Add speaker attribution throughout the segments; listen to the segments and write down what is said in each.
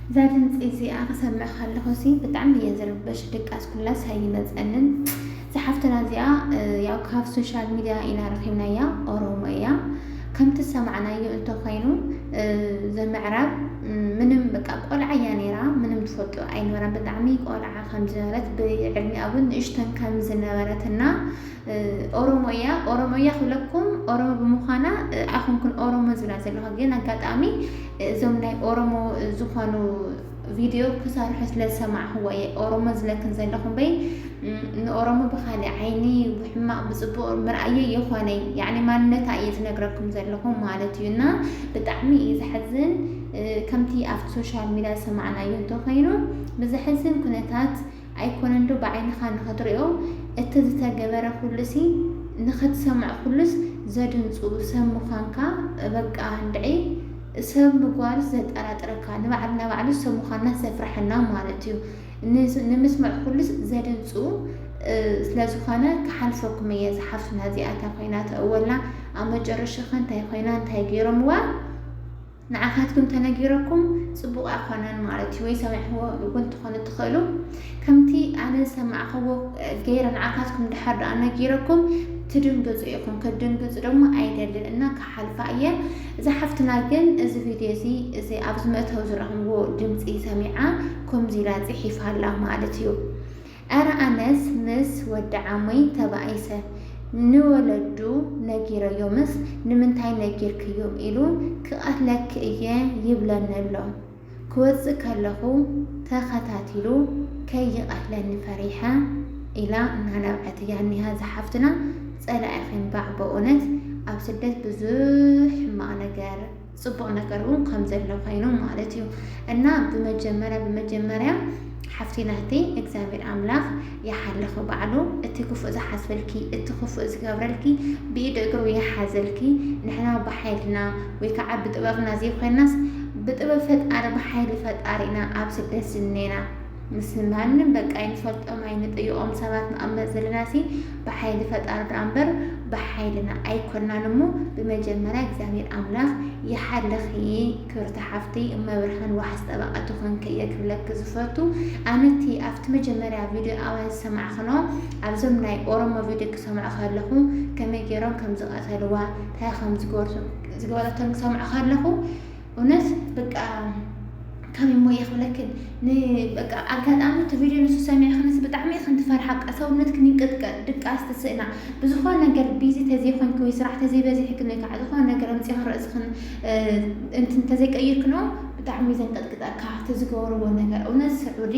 Speaker 1: እዛ ድምፂ እዚኣ ክሰምዕ ከለኩሲ ብጣዕሚ እየ ዝርበሽ ድቃስ ኩላስ ኣይመፀንን። እዛ ሓፍትና እዚኣ ያው ካብ ሶሻል ሚድያ ኢና ረኺብናያ ኦሮሞ እያ ከምቲ ዝሰማዕናዮ እንተኾይኑ እዛ ምዕራብ ምንም በቃ ቆልዓ እያ ነይራ ምንም ትፈልጦ ኣይነበራን ብጣዕሚ ቆልዓ ከም ዝነበረት ብዕድሚኣ እውን ንእሽተን ከም ዝነበረት እና ኦሮሞ እያ ኦሮሞ እያ ክብለኩም ኦሮሞ ብምዃና ኣይኮንኩን ኦሮሞ ዝብላ ዘለኹ ግን ኣጋጣሚ እዞም ናይ ኦሮሞ ዝኾኑ ቪድዮ ክሰርሑ ስለ ዝሰማዕኽዎ እየ ኦሮሞ ዝለክን ዘለኹ እምበይ ንኦሮሞ ብኻልእ ዓይኒ ብሕማቕ ብፅቡቕ ምርኣየ የኾነይ ያዕኒ ማንነታ እየ ዝነግረኩም ዘለኹ ማለት እዩ እና ብጣዕሚ እዩ ዘሕዝን ከምቲ ኣብቲ ሶሻል ሚዲያ ዝሰማዕናዮ እንተኾይኑ ብዘሕዝን ኩነታት ኣይኮነን ዶ ብዓይንኻ ንኽትሪኦ እቲ ዝተገበረ ኩሉሲ ንኽትሰምዕ ኩሉስ ዘድንፁ ሰብ ምዃንካ በቃ እንድዒ ሰብ ምጓንስ ዘጠራጥረካ ንባዕልና ባዕሉ ሰብ ምዃንና ዘፍረሐና ማለት እዩ ንምስምዕ ኩሉስ ዘድንጹ ስለ ዝኾነ ክሓልፈኩም እየ እዛ ሓፍትና እዚኣ እታ ኮይና ተእወላ ኣብ መጨረሻኸ እንታይ ኮይና እንታይ ገይሮምዋ ንዓኻትኩም ተነጊረኩም ፅቡቕ ኣይኮነን ማለት እዩ ወይ ሰሚዕዎ እውን ትኾኑ ትኽእሉ ከምቲ ኣነ ዝሰማዕኸዎ ገይረ ንዓኻትኩም ድሓር ድኣ ነጊረኩም ትድንግፁ ኢኹም ክትድንግፁ ደግሞ ኣይደልን እና ክሓልፋ እየ እዛ ሓፍትና ግን እዚ ቪድዮ እዚ እዚ ኣብዚ መእተዊ ዝረኽብዎ ድምጺ ሰሚዓ ከምዚ ኢላ ጽሒፋ ኣላ ማለት እዩ ኣረ ኣነስ ምስ ወዲ ዓመይ ተባኢሰ ንወለዱ ነጊረዮምስ ንምንታይ ነጊርክዮም ኢሉ ክቐትለኪ እየ ይብለኒ ኣሎ ክወጽእ ከለኹ ተኸታቲሉ ከይቀትለኒ ፈሪሐ ኢላ እናነብዐት እያ እኒሃ እዛ ሓፍትና ጸላኢኺ እንባዕ በእውነት ኣብ ስደት ብዙሕ ሕማቅ ነገር ጽቡቅ ነገር እውን ከም ዘሎ ኮይኑ ማለት እዩ እና ብመጀመርያ ብመጀመርያ ሓፍቲናህተይ እግዚኣብሔር ኣምላኽ ይሓልኺ ባዕሉ እቲ ክፉእ ዝሓስበልኪ እቲ ክፉእ ዝገብረልኪ ብኢድ እግሩ ይሓዘልኪ ንሕና ብሓይልና ወይ ከዓ ብጥበብና ዘይኮይናስ ብጥበብ ፈጣሪ ብሓይሊ ፈጣሪ ኢና ኣብ ስደት ዝኔና ምስ ማንም በቃ ኣይንፈልጦም ኣይንጥይቖም ሰባት ንቕመጥ ዘለናሲ ብሓይሊ ፈጣሪ ድኣ እምበር ብሓይልና ኣይኮናን እሞ ብመጀመርያ እግዚኣብሔር ኣምላኽ ይሓልኺ ክብርቲ ሓፍተይ እመብርሃን ዋሕስ ጠበቃ ትኾንኪ እየ ክብለኪ ዝፈቱ ኣነ እቲ ኣብቲ መጀመርያ ቪድዮ ኣዋን ዝሰማዕክኖ ኣብዞም ናይ ኦሮሞ ቪድዮ ክሰምዖ ከለኹ ከመይ ገይሮም ከም ዝቀተልዋ ታይ ከም ዝገበርቶ ዝገበረቶም ክሰምዖ ከለኹ እውነት በቃ ከመይ እሞ እየ ክብለክን በቃ ኣጋጣሚ እቲ ቪድዮ ንሱ ሰሚዕክንስ ብጣዕሚ ኢኽን ትፈርሓ በቃ ሰውነትክ ይንቅጥቀጥ ድቃስ ትስእና ብዝኾነ ነገር ቢዚ ተዘይኮንኪ ወይ ስራሕ ተዘይበዚሕክን ወይ ከዓ ዝኾነ ነገር ኣምፂኽን ርእስኽን እንቲ እንተዘይቀይርክኖ ብጣዕሚ ዘንቀጥቅጠካ እቲ ዝገብርዎ ነገር እውነት ስዑዲ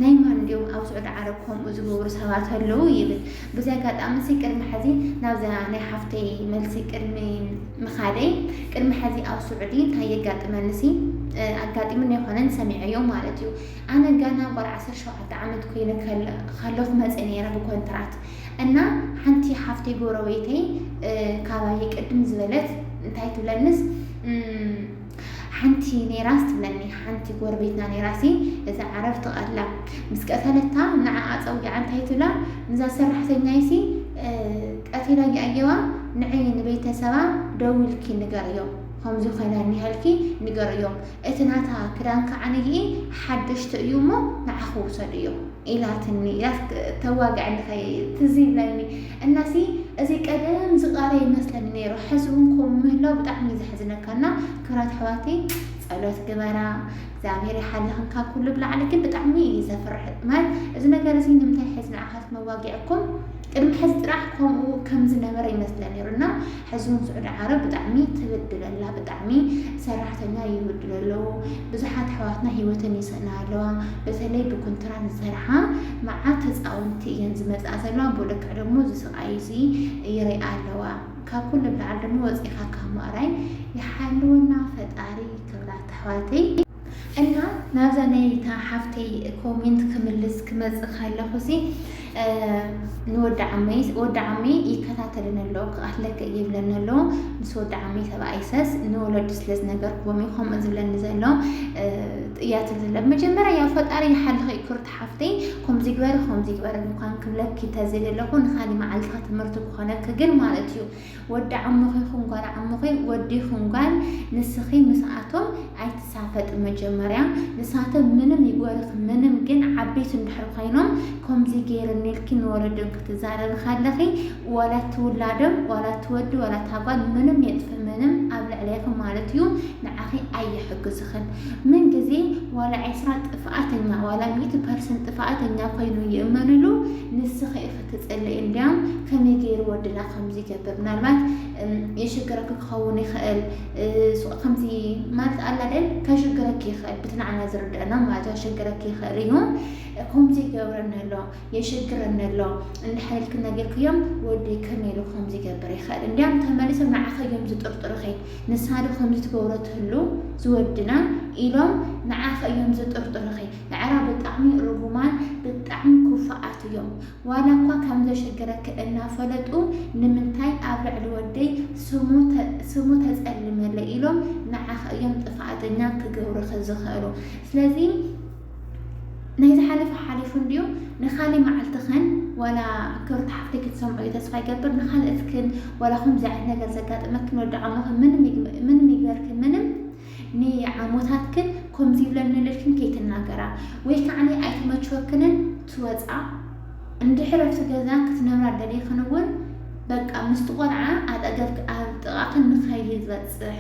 Speaker 1: ናይ ማን ድዮም ኣብ ስዑዲ ዓረብ ከምኡ ዝገብሩ ሰባት ኣለዉ ይብል ብዚ ኣጋጣሚ ሲ ቅድሚ ሕዚ ናብዛ ናይ ሓፍተይ መልሲ ቅድሚ ምኻደይ ቅድሚ ሕዚ ኣብ ስዑዲ እንታይ የጋጥመኒ ሲ ኣጋጢሙን ኣይኮነን ሰሚዐዮ ማለት እዩ ኣነ ጋና ጓል ዓሰርተ ሸውዓተ ዓመት ኮይነ ከለኹ መፀ ነይረ ብኮንትራት እና ሓንቲ ሓፍተይ ጎረቤተይ ካባየ ቅድም ዝበለት እንታይ ትብለንስ ሓንቲ ኔራስ ትብለኒ ሓንቲ ጎረቤትና ኔራሲ እዛ ዓረብ ትቐትላ ምስ ቀተለታ ንዓኣ ፀዊዓ እንታይ ትብላ ንዛ ሰራሕተኛይሲ ቀቲላ ይኣየዋ ንዕይ ንቤተሰባ ደዊልኪ ንገርዮ ከምዚ ኮይና ኒሃልኪ ንገርዮም እቲ ናታ ክዳን ከዓ ንይኢ ሓደሽቲ እዩ እሞ ንዓኹ ውሰድዮ ኢላትኒ ያክ ተዋግዕኒ ከይ ትዝ ይብለኒ እና ሲ እዚ ቀደም ዝቃረ ይመስለኒ ነይሩ ሕዚ እውን ከምኡ ምህላው ብጣዕሚ እዩ ዘሕዝነካ እና ክብራት ኣሕዋተይ ጸሎት ግበራ እግዚኣብሔር ይሓልኽን ካብ ኩሉ ብላዕሊ ግን ብጣዕሚ እዩ ዘፍርሕ ማለት እዚ ነገር እዚ ንምንታይ ሕዚ ንዓኻት መዋጊዕኩም ቅድሚ ሕዚ ጥራሕ ከምኡ ከም ዝነበረ ይመስለ ነይሩ እና ሕዚ ውን ስዑዲ ዓረብ ብጣዕሚ ትብድል ኣላ ብጣዕሚ ሰራሕተኛ ይብድሉ ኣለዉ ብዙሓት ኣሕዋትና ሂወተን ይስእና ኣለዋ በተለይ ብኩንትራት ዝሰርሓ መዓት ተጻወቲ እየን ዝመጽኣ ዘለዋ ብልክዕ ደሞ እዚ ስቃይ እዚ ይሪኣ ኣለዋ ካብ ኩሉ ንላዕሊ ደሞ ወጺካ ካብ ምእራይ ይሓልወና ፈጣሪ ክብራት ኣሕዋተይ። እና ናብዛ ናይታ ሓፍተይ ኮሜንት ክምልስ ክመፅእ ከለኹሲ ንወዲ ዓመይ ወዲ ዓመይ ይከታተልን ኣሎ ክኣትለክ ይብለኒ ኣሎ ምስ ወዲ ዓመይ ሰብኣይ ሰስ ንወለዱ ስለ ዝነገርክዎም እዩ ከምኡ ዝብለኒ ዘሎ እያ ትብል ዘሎ መጀመርያ ያው ፈጣሪ ይሓልኺ ክርቲ ሓፍተይ ከምዚ ግበሪ ከምዚ ግበሪ እንኳን ክብለኪ ተዝደለኹ ንካሊ መዓልትኻ ትምህርቲ ክኾነኪ ግን ማለት እዩ ወዲ ዓሙኺ ይኹን ጓል ዓሙኺ ወዲ ይኹን ጓል ንስኺ ምስኣቶም ኣይትሳፈጢ መጀመርያ ንሳቶም ምንም ይጎርኽ ምንም ግን ዓበይቲ እንድሕር ኮይኖም ከምዚ ገይርኒ ኢልኪ ንወለዶም ክትዛረቢ ከለኺ ዋላ እቲ ውላዶም ዋላ እቲ ወዲ ዋላ እታ ጓል ምንም የጥፍእ ምንም ኣብ ልዕሌኺ ማለት እዩ ንዓኺ ኣይሕግዝኽን ምን ግዜ ዋላ ዒስራ ጥፍኣተኛ ዋላ ሚእቲ ፐርሰንት ጥፍኣተኛ ኮይኑ ይእመንሉ ንስኺ ኢኺ ትጽሊ እንድያ ከመይ ገይሩ ወድና ከምዚ ይገብር ምናልባት የሽግረኪ ክኸውን ይኽእል ሱቅ ከምዚ ማለት ኣላ ደል ከሽግረኪ ይኽእል ብትናዕና ዝርድአና ማለት ኣሸግረኪ ይኽእል እዩ ከምዚ ይገብረኒ ኣሎ የሽግረኒ ኣሎ እንዳሓለልኪ ነገርክዮም ወዲ ከመይ ኢሉ ከምዚ ይገብር ይኽእል እንዲያም ተመሊሶም ንዓኸዮም ዝጥርጥሩኺ ንሳዶ ከምዚ ትገብሮ ትህሉ ዝወድና ኢሎም ንዓኸዮም ዝጥርጥሩኺ ንዕራ ብጣዕሚ ርጉማን ብጣዕሚ ኩፋኣት እዮም ዋላ እኳ ከም ዘሸግረኪ እናፈለጡ ንምንታይ ኣብ ልዕሊ ወደይ ስሙ ተጸልምለይ ኢሎም ንዓኺ እዮም ጥፋኣተኛ ክገብሩኺ ዝኽእሉ ስለዚ ናይ ዝሓለፈ ሓሊፉ እንድዩ ንካሊ መዓልትኽን ዋላ ክብርቲ ሓፍተይ ክትሰምዑ እዩ ተስፋ ይገብር ንካልእትክን ዋላ ከምዚ ዓይነት ነገር ዘጋጥመክን ወዲ ዓሞኽን ምንም ይግበርኪ ምንም ንዓሞታትክን ኮምዚ ይብለኒ ልልክን ከይትናገራ ወይ ካዕኒ ኣይተመችወክንን ትወጻ እንድሕር ኣብቲ ገዛ ክትነብራ ደሊክን እውን በቃ ምስቲ ቆልዓ ኣጠገብክ ኣብ ጥቃክን ንከይበጽሕ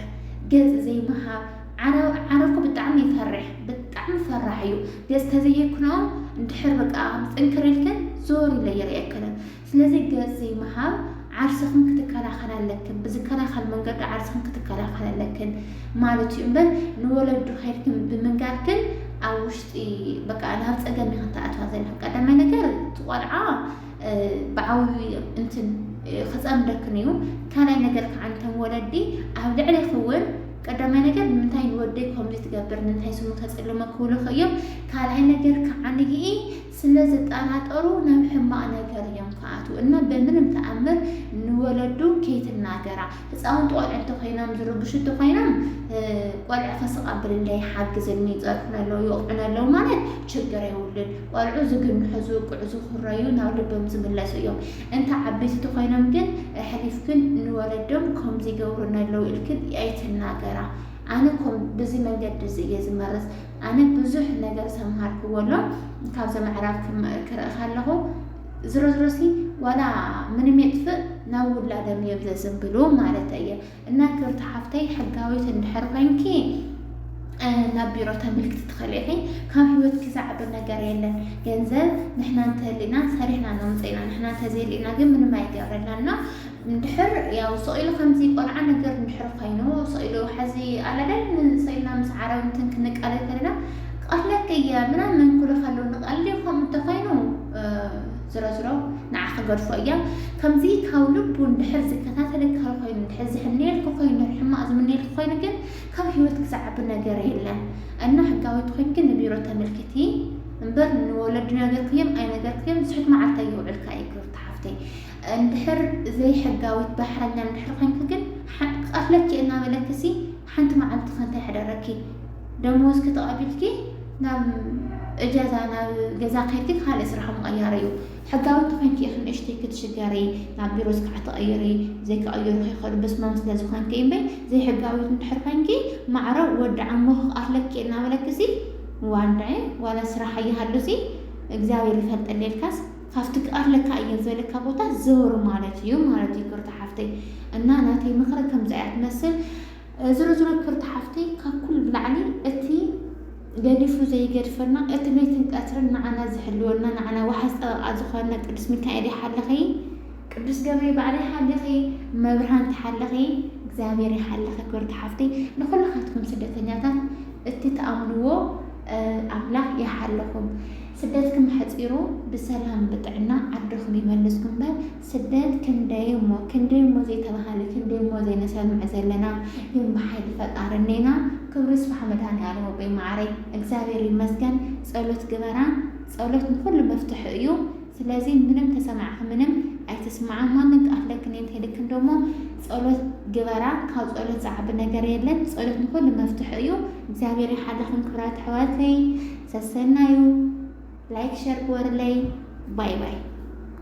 Speaker 1: ገጽ ዘይምሃብ ዓረኩ ብጣዕሚ ይፈርሕ ብጣዕሚ ፈራሕ እዩ ገጽ ተዘይክኖ እንድሕር በቃ ጥንክር ኢልክን ዞር ኢለ ይርእየክን ስለዚ ገጽ ዘይምሃብ ዓርስኽን ክትከላኸላ ኣለክን ብዝከላኸል መንገዲ ዓርስኽን ክትከላኸላ ኣለክን ማለት እዩ እምበር ንወለዱ ከድክን ብምንጋርክን ኣብ ውሽጢ በቃ ናብ ጸገም ኢኽን ተኣትዋ ዘለኽን ቀዳማይ ነገር ትቆልዓ ብዓብዩ እንትን ክጸምደክን እዩ ካልኣይ ነገር ከዓ እንተን ወለዲ ኣብ ልዕሊ ክውን ቀዳማይ ነገር ንምንታይ ንወደይ ከምዚ ትገብር ንምንታይ ስሙ ተጽልሞ ክብሉኽ እዮም ካልኣይ ነገር ከዓ ንግኢ ስለ ዝጣናጠሩ ናብ ሕማቅ ነገር እዮም ክኣትው እና በምንም ተኣምር ንወለዱ ከይትናገራ ህፃውንቲ ቆልዑ እንተኮይኖም ዝርብሹ እንተኮይኖም ቆልዑ ከስቀብል እንዳ ይሓግዝኒ ይፀርፉኒ ኣለው ይወቅዑኒ ኣለው ማለት ችግር የውልን ቆልዑ ዝግንሑ ዝውቅዑ ዝኩረዩ ናብ ልቦም ዝምለሱ እዮም እንተ ዓበይቲ ተኮይኖም ግን ኣሕሊፍክን ንወለዶም ከምዚ ይገብሩኒ ኣለው ኢልክን ኣይትናገራ ኣነ ኮም ብዚ መንገዲ እዚ እየ ዝመርፅ ኣነ ብዙሕ ነገር ሰምሃርክዎ ኣሎ ካብዞም ኣዕራብት ክርኢ ከለኹ ዝሮ ዝሮሲ ዋላ ምንም የጥፍእ ናብ ውላዶም እዮም ዘዝንብሉ ማለት እየ እና ክብርቲ ሓፍተይ ሕጋዊት እንድሕር ኮይንኪ ናብ ቢሮ ተምልክቲ ትኽእል ኢኺ ካብ ህይወትኪ ዝዓቢ ነገር የለን ገንዘብ ንሕና እንተህሊና ሰሪሕና ነምፅኢና ንሕና እንተዘይልኢና ግን ምንም ኣይገብረልናና እንድሕር ያው ስቕ ኢሉ ከምዚ ቆልዓ ነገር እንድሕር ኮይኑ ስቕ ኢሉ ሓዚ ኣለ ኣይደል ስቕ ኢልና ምስ ዓረብ እንትን ክንቃለድ ከለና ክቐትለኪ እየ ምናምን ክብሉ ከለዉ ንቐልዲ ከምኡ እንተኾይኑ ዝሮ ዝሮ ንዓ ክገድፎ እያ ከምዚ ካብ ልቡ እንድሕር ዝከታተለካ ኮይኑ እንድሕር ዝሕነየልኪ ኮይኑ ሕማቕ ዝምነየልኪ ኮይኑ ግን ካብ ህይወት ክዝዓቢ ነገር የለን እና ሕጋዊት ኮይኑ ግን ንቢሮ ተመልክቲ እምበር ንወለዲ ነገርክዮም ኣይነገርክዮም ዝሑት መዓልታ ይውዕልካ እዩ ክብርቲ ሓፍተይ እንድሕር ዘይሕጋዊት ባሕረኛ እንድሕር ኮይንኪ ግን ክቀትለኪ እየ እናበለኪሲ ሓንቲ መዓልቲ ከ እንታይ ሓደረኪ ደመወዝኪ ተቀቢልኪ ናብ እጃዛ ናብ ገዛ ከይድኪ ካልእ ስራሕ ምቕያር እዩ ሕጋዊ ተኮይንኪ ኢኺ ንእሽተይ ክትሽገሪ ናብ ቢሮ ስራሕ ተቐይሪ ዘይክቐይሩ ከይኸዱ በስማም ስለ ዝኾንኪ እምበይ ዘይሕጋዊት እንድሕር ኮይንኪ ማዕረ ወዲ ዓሞ ክቀትለኪ እናበለኪሲ ዋንዳይ ዋላ ስራሕ ኣይሃሉሲ እግዚኣብሔር ይፈልጠልየልካስ ካብቲ ክቀርለካ እየ ዝበለካ ቦታ ዘወር ማለት እዩ ማለት እዩ ክብርቲ ሓፍተይ እና ናተይ ምክሪ ከምዚ እያ ትመስል ዝሮ ዝሮ ክብርቲ ሓፍተይ ካብ ኩሉ ብላዕሊ እቲ ገዲፉ ዘይገድፈና እቲ ለይትን ቀትርን ንዓና ዝሕልወና ንዓና ዋሕስ ጠበቃ ዝኾነ ቅዱስ ሚካኤል ይሓልኺ ቅዱስ ገብሪ ባዕለ ይሓልኺ መብርሃን ትሓልኺ እግዚኣብሔር ይሓልኺ ክብርቲ ሓፍተይ ንኩላኻትኩም ስደተኛታት እቲ ተኣምንዎ ኣምላኽ ይሓልኹም ስደትክም ኣሕጺሩ ብሰላም ብጥዕና ዓድኩም ይመልስኩም እምበር ስደት ክንደይ እሞ ክንደይ እሞ ዘይተባሃለ ክንደይ እሞ ዘይነሰምዕ ዘለና ግን ብሓይሊ ፈጣሪ እኔና ክብሩ ይስፋሕ መድሃኒኣለም ኣቦይ ማዓረይ እግዚኣብሔር ይመስገን ጸሎት ግበራ ጸሎት ንኩሉ መፍትሑ እዩ ስለዚ ምንም ተሰማዕኪ ምንም ኣይትስማዓ ማንም ክኣክለክን የንተይልክን ደሞ ጸሎት ግበራ ካብ ጸሎት ዝዓቢ ነገር የለን ጸሎት ንኩሉ መፍትሑ እዩ እግዚኣብሔር ይሓልኹም ክብራት ኣሕዋተይ ሰሰናዩ ላይክ ሸር ግበሩለይ ባይ ባይ።